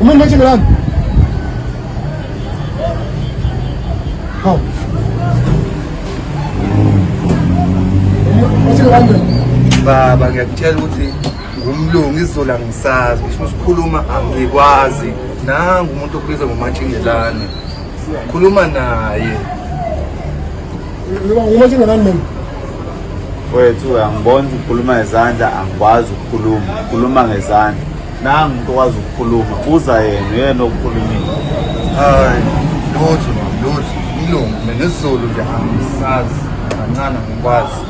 Umeniacha na nani? Hao. Baba ngiyakutshela ukuthi ngumlungu izola ngisazi ngisho sikhuluma angikwazi nangu umuntu okubizwa ngomatshingelane khuluma naye umatshingelane mina wethu angibona ukuthi ukhuluma ngezandla angikwazi ukukhuluma ukhuluma ngezandla nangu umuntu okwazi ukukhuluma buza yena uyena okukhulumile hayi lutho lutho ilungu mina isizulu nje angisazi kancane angikwazi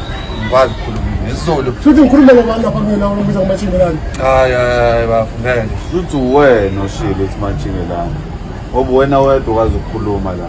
ngikwazi ukukhuluma nezolo futhi ngikhuluma ngobani lapha kumina ubiza ngomatshingelani hayi hayi bafo ngeke lutho wena oshilo ukuthi matshingelani ngoba wena wedwa okwazi ukukhuluma la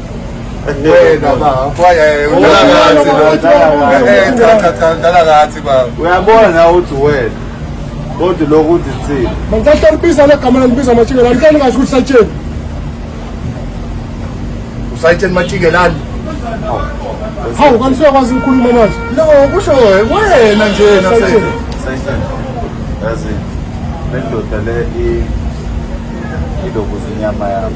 wena baba uyabona uthi wena kodwa lokhu uthi thina mangicahle libiza legama lalibiza matshinge lani kani ngazi ukuthi satsheni usayitsheni matshinge lani hawu kanti suyakwazi ukukhuluma manje no kusho wena nje nasayitsheni yazi le ndoda le ilokuza inyama yami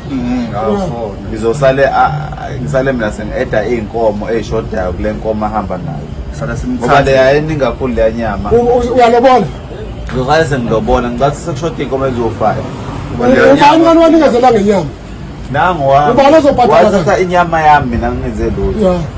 ngizosale ngisale mina sengi-eda iy'nkomo ey'shodayo kule nkomo ahamba nayo ngoba leya eningi kakhulu leya nyama uyalobola ngizosale sengilobona ngicathi sekushoda iy'nkomo eziwu-five ubani wani wanikezela ngenyama nangu wami wathatha inyama yami mina ngingenze lutho